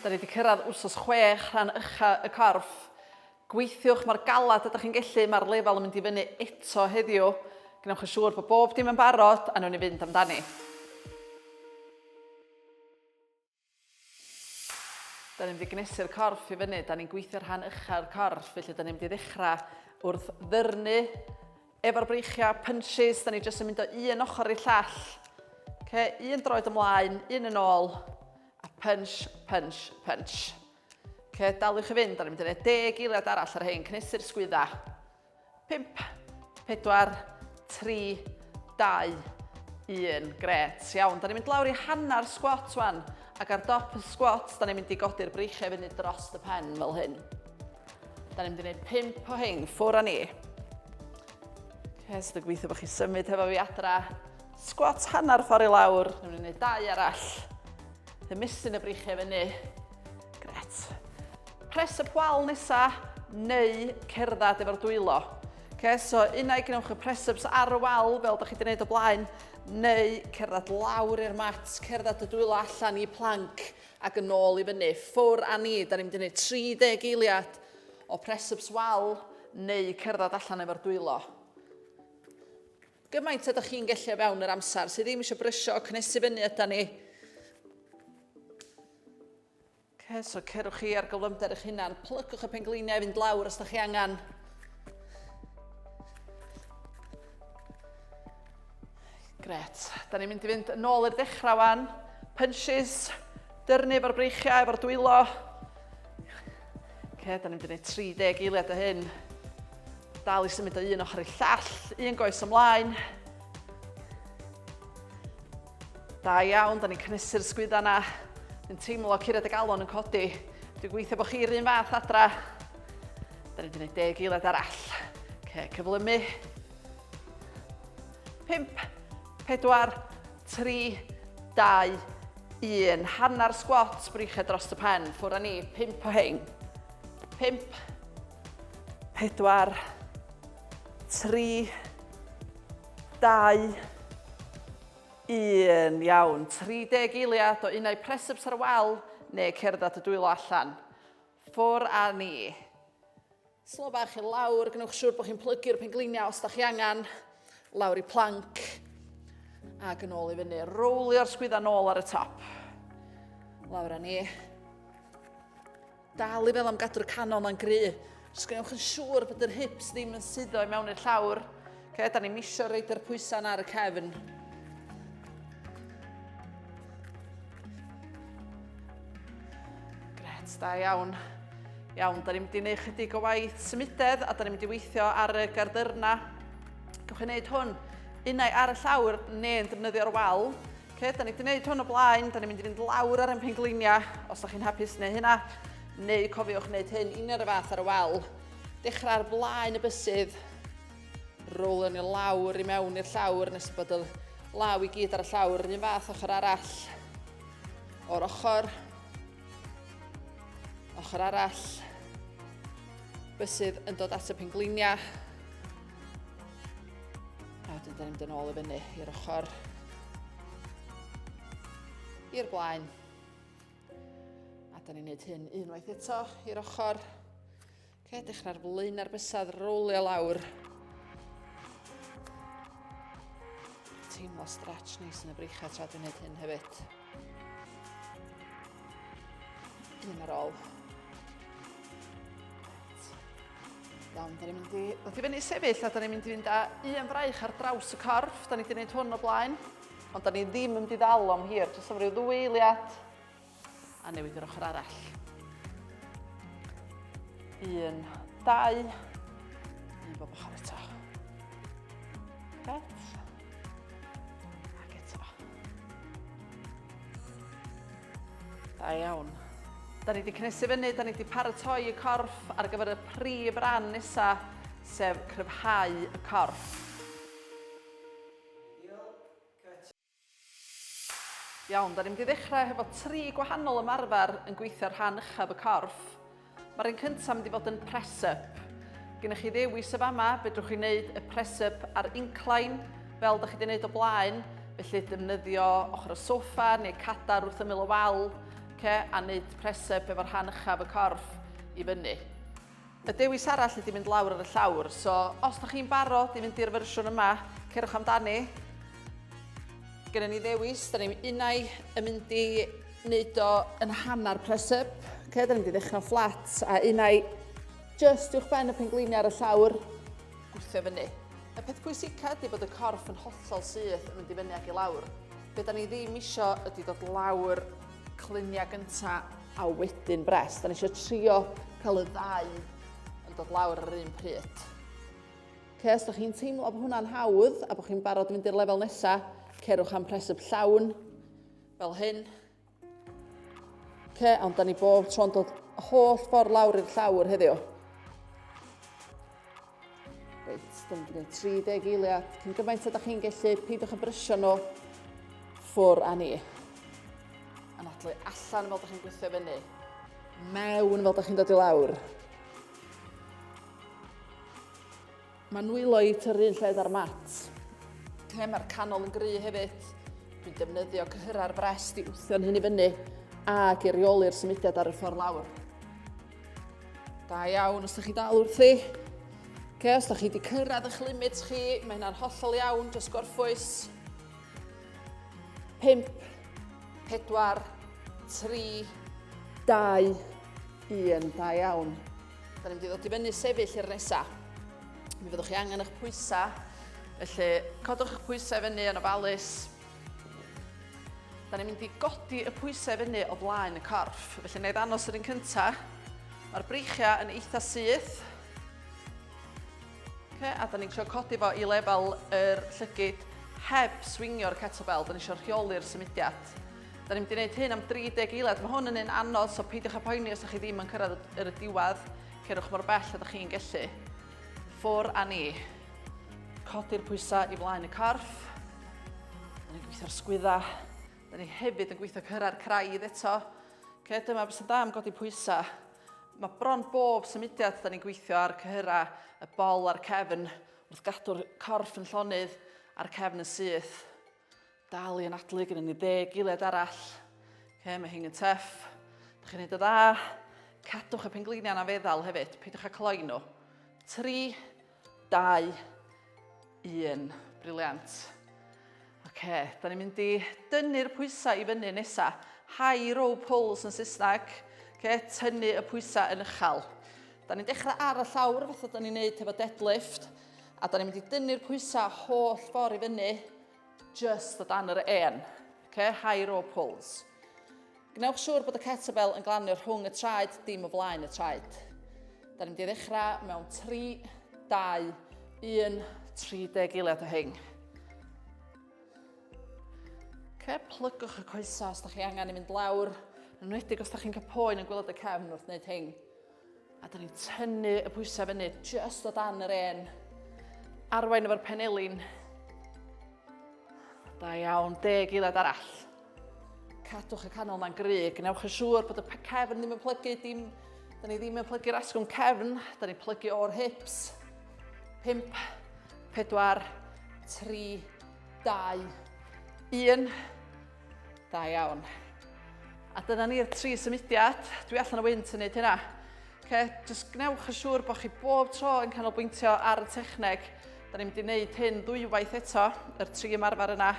Da ni wedi cyrraedd wrsos chwech rhan ucha y corff. Gweithiwch mae'r galad ydych chi'n gellu, mae'r lefel yn mynd i fyny eto heddiw. Gwnewch yn siŵr bod bob dim yn barod a nhw'n i fynd amdani. Da ni'n mynd i gnesu'r corff i fyny, da ni'n gweithio rhan uchau'r corff, felly da ni'n mynd i ddechrau wrth ddyrnu efo'r breichiau, punches, da ni jyst yn mynd o un ochr i'r llall. Okay, un droed ymlaen, un yn ôl, a punch, punch, punch. Okay, daliwch i fynd, da ni'n mynd i wneud deg eiliad arall ar hyn, cnesu'r sgwydda. 5, 4, 3, 2, 1. Gret, iawn. Da ni'n mynd lawr i hanner sgwat wan, ac ar dop y sgwat, da ni'n mynd i godi'r breichiau fyny dros y pen fel hyn. Da ni'n mynd i wneud 5 o hyn, ffwr a ni. Hes, dwi'n gweithio bod chi symud hefo fi adra. Sgwat hanner ffordd i lawr, ni'n mynd i wneud dau arall. Ymestyn y breichiau fyny. Gret. Pres y pwal nesa neu cerdded efo'r dwylo. Okay, so unau gwnewch y press-ups ar y wal fel da chi wedi gwneud o blaen, neu cerdded lawr i'r mat, cerdded y dwylo allan i planc ac yn ôl i fyny. Ffwr a ni, da ni'n mynd i wneud 30 eiliad o press-ups wal neu cerdded allan efo'r dwylo. Gymaint a da chi'n gellu o fewn yr amser, sydd ddim eisiau brysio o cynnesu fyny yda ni. Okay, so cerwch chi ar gyflymder eich hunan. Plygwch y pengliniau i fynd lawr os da chi angen. Gret. Da ni'n mynd i fynd yn ôl i'r dechrau wan. Punches, dyrnu efo'r breichiau, efo'r dwylo. Okay, da ni'n mynd i wneud 30 eiliad o hyn. Dal i symud o un ochr i'r llall, un goes ymlaen. Da iawn, da ni'n cynhesu'r sgwydda yna. Dwi'n teimlo curiad y galon yn codi. Dwi'n gweithio bod chi'r un fath adra. Da ni'n gwneud deg eilad arall. Ce, cyflymu. 5, 4, 3, 2, 1. Hanner sgwat, brychau dros y pen. Ffwr â ni, 5 o hein. 5, 4, 3, 2, 1. Iawn. 30 eiliad o unau presups ar wal neu cerdded at y dwylo allan. Ffwr a ni. Slo bach i lawr, gwnewch siŵr bod chi'n plygu'r pengliniau os da chi angen. Lawr i planc. Ac yn ôl i fyny. Rowlio'r sgwydda nôl ar y top. Lawr a ni. Dal i fel am gadw'r canol ma'n gry. Os gwnewch yn siŵr bod yr hips ddim yn suddo i mewn i'r llawr. Okay, da ni misio reid yr pwysau ar y cefn. Gret, da iawn. Iawn, da ni'n mynd i wneud chydig o waith symudedd a da ni'n mynd i weithio ar y gardyrna. Gwych yn gwneud hwn unau ar y llawr neu'n defnyddio'r wal. Oce, da ni wedi gwneud hwn o blaen, da ni'n mynd i fynd lawr ar ein pengliniau, os da chi'n hapus neu hynna, neu cofiwch wneud hyn un ar y fath ar y wal. Dechrau ar blaen y bysydd, rowlio ni lawr i mewn i'r llawr nes bod y law i gyd ar y llawr, yr un fath ochr arall, o'r ochr, ochr arall, bysydd yn dod at y pengliniau, A wedyn dyn ni'n mynd yn ôl i fyny i'r ochr. I'r blaen. A dyn ni'n neud hyn unwaith eto i'r ochr. Ce, dechrau'r flaen ar bysad, rowlio lawr. Teimlo stretch neis yn y breichau tra dwi'n neud hyn hefyd. Un ar ôl. Iawn, da ni'n mynd i... Wrth i fyny sefyll a da ni'n mynd i fynd â un fraich ar draws y corff. Da ni wedi gwneud hwn o blaen. Ond da ni ddim yn diddal o'm hir. Jyst am ryw ddwy eiliad. A newid yr ochr arall. Un, dau. Un bob ochr eto. Right. Ac eto. Da iawn. Da ni wedi cynnesu fyny, da ni wedi paratoi y corff ar gyfer y prif ran nesaf, sef cryfhau y corff. Iawn, da ni'n mynd i ddechrau hefo tri gwahanol ymarfer yn gweithio rhan uchaf y corff. Mae'r un cyntaf mynd i fod yn press up. Gennych chi ddewis y fama, fedrwch chi wneud y press up ar incline, fel da chi wedi wneud o blaen, felly defnyddio ochr y soffa neu cadar wrth ymyl y wal, ce, a wneud press up efo'r rhan uchaf y corff i fyny. Y dewis arall ydy mynd lawr ar y llawr, so os da chi'n barod i fynd i'r fersiwn yma, cerwch amdani. Gennym ni ddewis, da ni'n unau yn mynd i wneud o yn hanner press up, ok, da ni'n mynd i ddechrau fflat, a un ai just uwch ben y pengleinia ar y llawr, gwthio fyny. Y peth pwysica ydy bod y corff yn hollol syth yn mynd i fyny ac i lawr. Be da ni ddim isio ydy dod lawr clunia gynta a wedyn bres. Da ni isio trio cael y ddau yn dod lawr yr un pryd. Ok, os da chi'n teimlo bod hwnna'n hawdd a bod chi'n barod i fynd i'r lefel nesaf, cerwch am press up llawn, Fel hyn. Ce, ond da ni bob tro'n dod holl ffordd lawr i'r llawr heddiw. Reit, da ni'n gwneud 30 eiliad. Cyn gymaint ydych chi'n gallu, peidiwch yn brysio nhw ffwr a ni. Anadlu allan fel ydych chi'n gweithio fyny. Mewn fel ydych chi'n dod i lawr. Mae nwylo i tŷ'r un lled â'r mat. Lle mae'r canol yn gry hefyd. Dwi'n defnyddio cyhyrau'r brest i wthio'n hyn i fyny ac i reoli'r symudiad ar y ffordd lawr. Da iawn os da chi dal wrthi. Okay, os da chi wedi cyrraedd eich limit chi, mae hynna'n hollol iawn, jyst gorffwys. 5, 4, 3, 2, 1, da iawn. Da ni'n mynd i ddod i fyny sefyll i'r nesa. Mi fyddwch chi angen eich pwysau. Felly, codwch eich pwysau fyny yn ofalus. Da ni'n mynd i godi y pwysau fyny o blaen y corff. Felly, na i ddanos yr un cyntaf. Mae'r breichiau yn eitha syth. Okay, a da ni'n trio codi fo i lefel yr llygyd heb swingio'r kettlebell. Da ni'n eisiau rheoli'r symudiad. Da ni'n mynd i wneud hyn am 30 eiliad. Mae hwn yn un anodd, so peidiwch â poeni os ydych chi ddim yn cyrraedd yr y diwedd. Cerwch mor bell ydych chi'n gellu. Ffwr a ni. Codi'r pwysau i flaen y corff. Da ni'n gweithio'r sgwydda. Da ni hefyd yn gweithio cyrra'r craidd eto. Ce, dyma beth sy'n da am godi pwysau. Mae bron bob symudiad da ni'n gweithio ar cyhyra y bol a'r cefn wrth gadw'r corff yn llonydd a'r cefn yn syth. Dal i anadlu gyda ni dde gilydd arall. Okay, mae hyn yn teff. Da chi'n neud y dda. Cadwch y pengleiniau na feddal hefyd. Peidiwch â cloi nhw. 3, 2, 1. Briliant. Oce, da ni'n mynd i dynnu'r pwysau i fyny nesa. High row pulls yn Saesneg. Oce, tynnu y pwysau yn uchel. Da ni'n dechrau ar y llawr, fatha da ni'n neud hefo deadlift. A da ni'n mynd i dynnu'r pwysau holl ffordd i fyny, just o dan yr en. Okay? High row pulls. Gwnewch siŵr bod y kettlebell yn glanio rhwng y traed, dim o flaen y traed. Da ni'n mynd i ddechrau mewn 3, 2, 1, 30 eiliad o hyn. Okay, plygwch y coesau os da chi angen i mynd lawr, yn wneud os da chi'n cael poen yn gwylod y cefn wrth wneud hyn. A da ni'n tynnu y pwysau fyny, just o dan yr en. Arwain efo'r penelin. Da iawn, deg eilad arall. Cadwch y canol ma'n gry, gwnewch yn siŵr bod y cefn ddim yn plygu, dim, da ni ddim yn plygu'r asgwrn cefn, da ni'n plygu o'r hips. 5, 4, 3, 2, 1. Da iawn. A dyna ni'r tri symudiad. Dwi allan o wynt yn neud hynna. Okay, just gwnewch yn siŵr bod chi bob tro yn canolbwyntio ar y techneg. Da ni'n mynd i wneud hyn ddwywaith eto, yr tri ymarfer yna.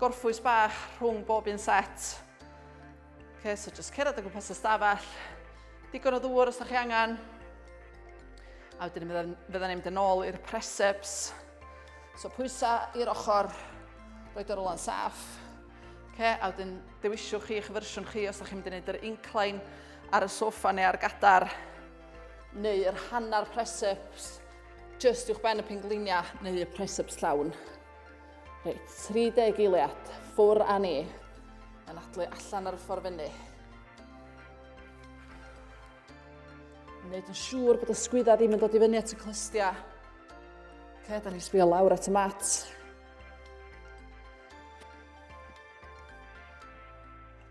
Gorffwys bach rhwng bob un set. Okay, so just cerdded o gwmpas y stafell. Digon o ddŵr os da chi angen. A wedyn fydda ni'n mynd yn ôl i'r preseps. So pwysa i'r ochr, roed yr ola'n saff. Okay, a wedyn dewisiwch chi eich fersiwn chi os ydych chi'n mynd i wneud yr incline ar y sofa neu ar gadar neu yr hanner preseps just i'w ben y pengliniau neu y preseps llawn. Reit, 30 eiliad, ffwr a ni. Yn adlu allan ar y ffordd fyny. Wneud yn siŵr bod y sgwydda ddim yn dod i fyny at y clystiau. Ok, da ni sbio lawr at y mat.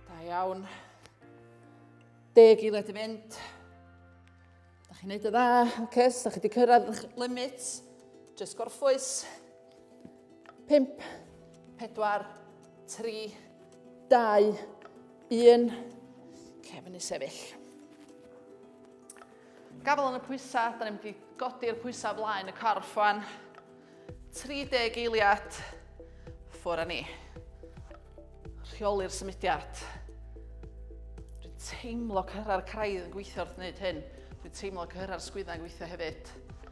Da iawn. Deg i led i fynd. Da chi'n neud y dda. Ok, os da chi wedi cyrraedd eich limit, just gorffwys. 5, 4, 3, 2, 1. Oce, fyny sefyll. Gafel yn y pwysau, da ni'n mynd i godi'r pwysau flaen y corff fan. 30 eiliad, ffwr â ni. Rheoli'r symudiad. Dwi'n teimlo cyrra'r craidd yn gweithio wrth wneud hyn. Dwi'n teimlo cyrra'r sgwyddau yn gweithio hefyd.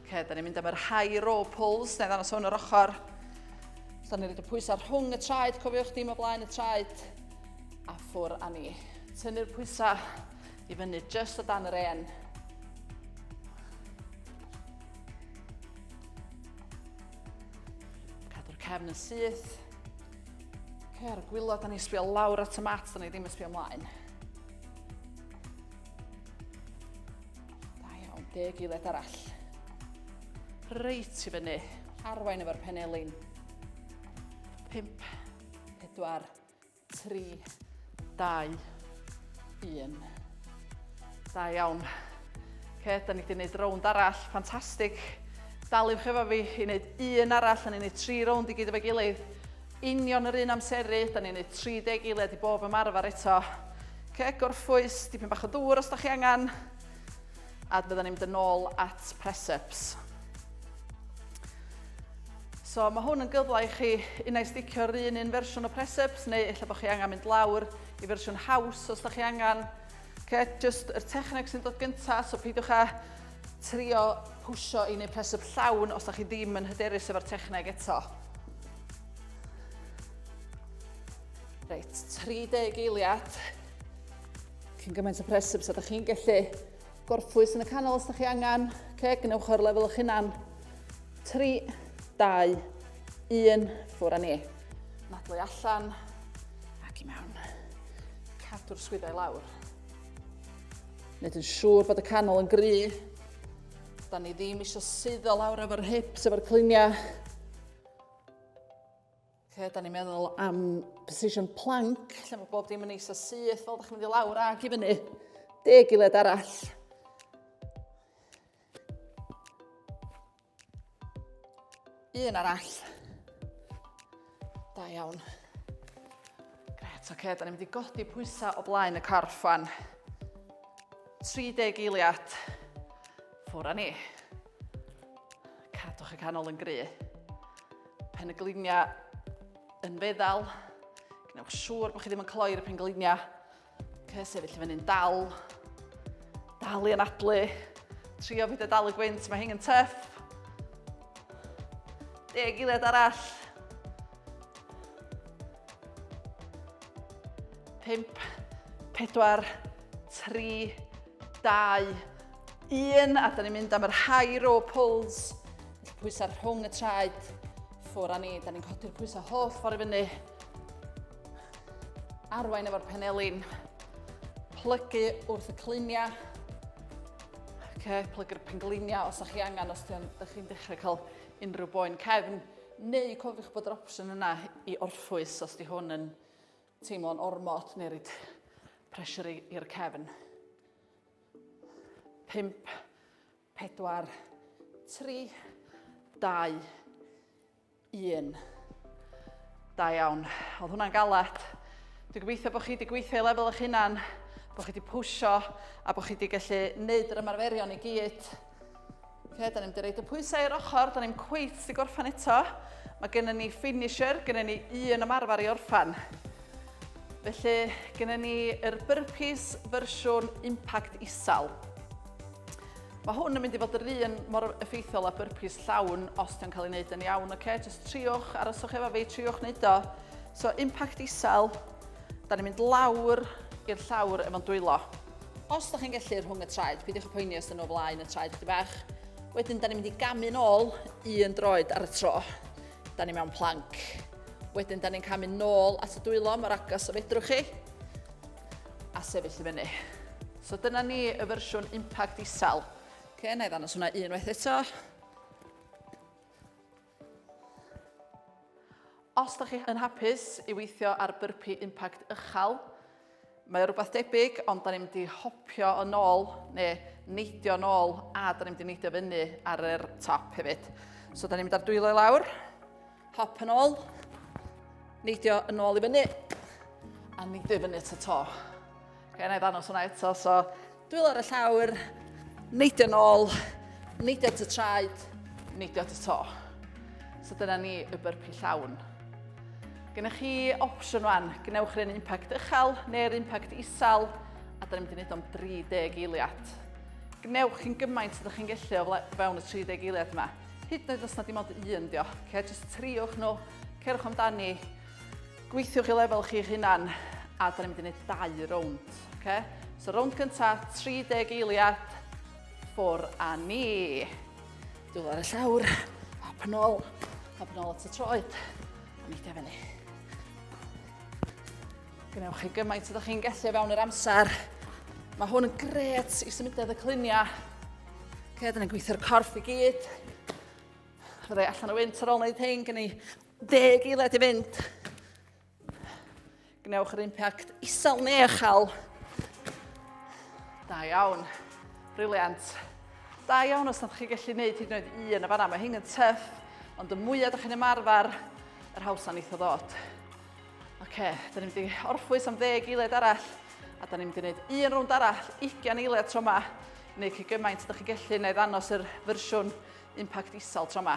Ok, da ni'n mynd am yr high row pulls, neu ddangos hwn yr ochr. So, da ni'n rhaid y pwysau rhwng y traed, cofiwch dim o blaen y traed, a ffwr a ni. Tynnu'r pwysau i fyny, just o dan yr en. Cadw'r cefn yn syth. Ok, ar y gwylod, da ni'n sbio lawr at y mat, da ni ddim yn sbio ymlaen. Da iawn, deg gilydd arall. Reit i fyny. Arwain efo'r penelin. Pimp. Pedwar. Tri. Dau. Un. Da iawn. Ce, da ni wedi gwneud rownd arall. Ffantastig. Daliwch efo fi i wneud un arall, a ni'n gwneud tri rownd i gyd efo'i gilydd. Union yr un amseru, da ni'n neud 30 eiliad i bob ymarfer eto. Okay, gorffwys, dipyn bach o ddŵr os da chi angen. A bydda ni'n mynd yn ôl at press-ups. So mae hwn yn gyfle i chi unau sticio yr un un fersiwn o press-ups neu efallai bod chi angen mynd lawr i fersiwn haws os da chi angen. Okay, just yr techneg sy'n dod gyntaf, so peidiwch â trio pwysio i wneud press-up llawn os da chi ddim yn hyderus efo'r techneg eto. Reit, 30 eiliad. Cyn gymaint o pres amser, da chi'n gallu gorffwys yn y canol os da chi angen. Ce, gwnewch o'r lefel o'ch hunan. 3, 2, 1, ffwr â ni. Nadlu allan ac i mewn. Cadw'r swyddau lawr. Nid yn siŵr bod y canol yn gry. Da ni ddim eisiau suddo lawr efo'r hips, efo'r cliniau. Lle da ni'n meddwl am position plank, lle mae bob dim yn eisa syth, fel da chi'n mynd i lawr ac i fyny. Deg i led arall. Un arall. Da iawn. Gret, oce, okay, da ni'n mynd i godi pwysau o blaen y corff fan. 30 eiliad. Ffwr ni. Cadwch y canol yn gry. Pen y gliniau yn feddal. Gwnewch siŵr bod chi ddim yn cloi'r pen gliniau. Okay, sefyll i fyny'n dal. Dal i anadlu. Trio fyd y dal y gwynt, mae hyn yn tyff. Deg eiliad arall. 5, 4, 3, 2, 1, a da ni'n mynd am yr high row pulls, pwysau rhwng y traed, ffwr a ni, da ni'n codi'r pwysau holl ffordd i fyny, arwain efo'r penelin, plygu wrth y cluniau. Okay, plygu'r pengliniau os ydych chi angen, os ydych chi'n dechrau cael unrhyw boen cefn, Neu cofiwch bod yr opsiwn yna i orffwys os di hwn yn teimlo'n ormod neu rhaid pressure i'r cefn. 5, 4, 3, 2, 1. Da iawn. Oedd hwnna'n galed. Dwi'n gobeithio bod chi wedi gweithio i lefel eich hunan, bod chi wedi pwysio a bod chi wedi gallu gwneud yr ymarferion i gyd. Okay, da ni'n dyrraid y pwysau i'r ochr, da ni'n cweith sy'n gorffan eto. Mae gennym ni finisher, gennym ni un ymarfer i orffan. Felly, gennym ni yr burpees fersiwn impact isal. Mae hwn yn mynd i fod yr un mor effeithiol â burpees llawn os ti'n cael ei wneud yn iawn, oce? Okay? Just triwch, aroswch efo fi, triwch wneud o. So, impact isal, Da ni'n mynd lawr i'r llawr efo'n dwylo. Os da chi'n gellu rhwng y traed, peidiwch y poeni os dyn nhw flaen y traed chdi bach. Wedyn, da ni'n mynd i gamu'n ôl un droed ar y tro. Da ni mewn planc. Wedyn, da ni'n camu'n nôl at y dwylo mor agos o fedrwch chi. A sefyll i fyny. So dyna ni y fersiwn impact isel. Okay, na i ddangos hwnna unwaith eto. Os da chi yn hapus i weithio ar byrpi impact ychal, mae o rhywbeth debyg, ond da ni'n mynd i hopio yn ôl, neu neidio yn ôl, a da ni'n mynd i neidio fyny ar yr top hefyd. So da ni'n mynd ar dwylo i lawr, hop yn ôl, neidio yn ôl i fyny, a neidio i fyny at y to. Okay, na i ddanos hwnna eto, so dwylo ar y llawr, neidio nôl, neidio at y traed, neidio at y to. So dyna ni y byrpi llawn. Gennych chi opsiwn wan, gwnewch rhan impact uchel neu'r impact isel, a da ni'n mynd i wneud o'n 30 eiliad. Gwnewch chi'n gymaint ydych chi'n gellu o fewn y 30 eiliad yma. Hyd yn oed os na dim ond un dio. Okay, just triwch nhw, cerwch amdani, Gweithiwch i lefel chi'ch hunan, a da ni'n mynd i wneud dau rownd. Okay? So rownd gynta, 30 eiliad, ffwr a ni. Dwi'n ar y llawr, hop yn ôl, hop yn ôl at y troed, a mi da fyny. Gwnewch chi gymaint ydych chi'n gallu fewn yr amser. Mae hwn yn gret i symudedd y cluniau. Okay, dyna'n gweithio'r corff i gyd. Fydde allan o wynt ar ôl wneud hyn, gen i Deg eiliad i fynd. Gwnewch yr impact isel neu uchel. Da iawn. Briliant. Da iawn os ydych chi gallu gwneud hyd yn oed un yn y fanna. Mae hyn yn tyff, ond y mwyaf ydych chi'n ymarfer, yr hawsa'n eitha ddod. Oce, okay, da ni'n mynd orffwys am ddeg eiliad arall, a da ni'n mynd i wneud un rownd arall, 20 eiliad tro yma, neu chi gymaint ydych chi'n gallu, neu ddanos yr fersiwn impact isel tro yma.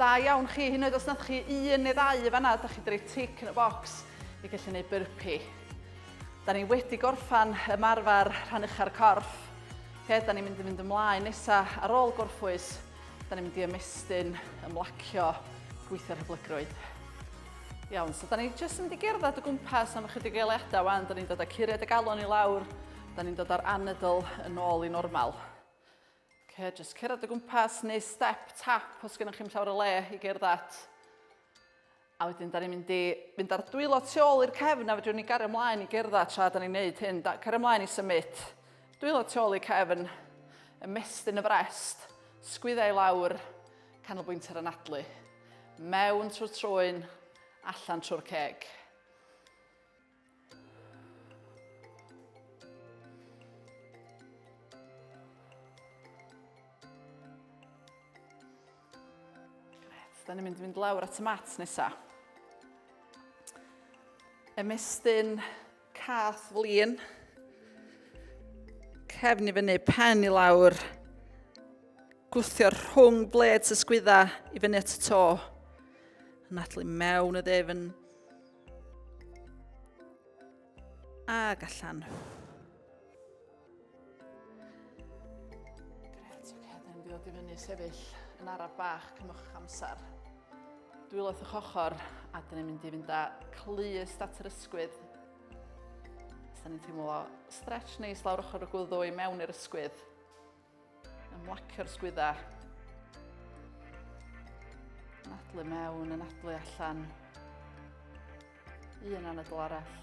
Da iawn chi, hyd yn oed os nathoch chi un neu ddau yn fanna, da chi wedi rhoi tic yn y bocs i gallu gwneud burpee. Da ni wedi gorffan ymarfer rhan ucha'r corff. Okay, da ni'n mynd i fynd ymlaen nesa ar ôl gorffwys. Da ni'n mynd i ymestyn, ymlacio, gweithio'r hyblygrwydd. Iawn, so da ni jyst yn mynd i gerdded o gwmpas am ychydig eiliadau wan. Da ni'n dod â curiad y galon i lawr. Da ni'n dod â'r anadl yn ôl i normal. Oce, jyst cerdded o gwmpas neu step tap os gennych chi'm llawer o le i gerdd at. A wedyn, da ni'n mynd i fynd ar dwylo tu ôl i'r cefn a fedrwn ni gario ymlaen i gerdd at tra da ni'n neud hyn. Da, cario ymlaen i symud. Dwylo tu ôl i'r cefn, ymestyn y frest, sgwydda i lawr, canolbwynt ar anadlu. Mewn trwy'r trwyn, allan trwy'r ceg. Da ni'n mynd i fynd lawr at y mat nesa. Ymestyn cath flin. Cefn i fyny, pen i lawr. Gwthio rhwng bled sysgwydda i fyny at y to. Natlu mewn y ddefn. Ag allan. Gret, oce, da ni'n dod i fyny sefyll yn araf bach cymwch amser. Dwyloth o'ch ochr a da ni'n mynd i fynd â clust at yr ysgwydd Da ni'n teimlo stretch neis lawr ochr y gwddw i mewn i'r ysgwydd. Ymlacio'r sgwyddau. Anadlu mewn, anadlu allan. Un anadl arall.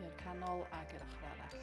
I'r canol ag i'r ochr arall.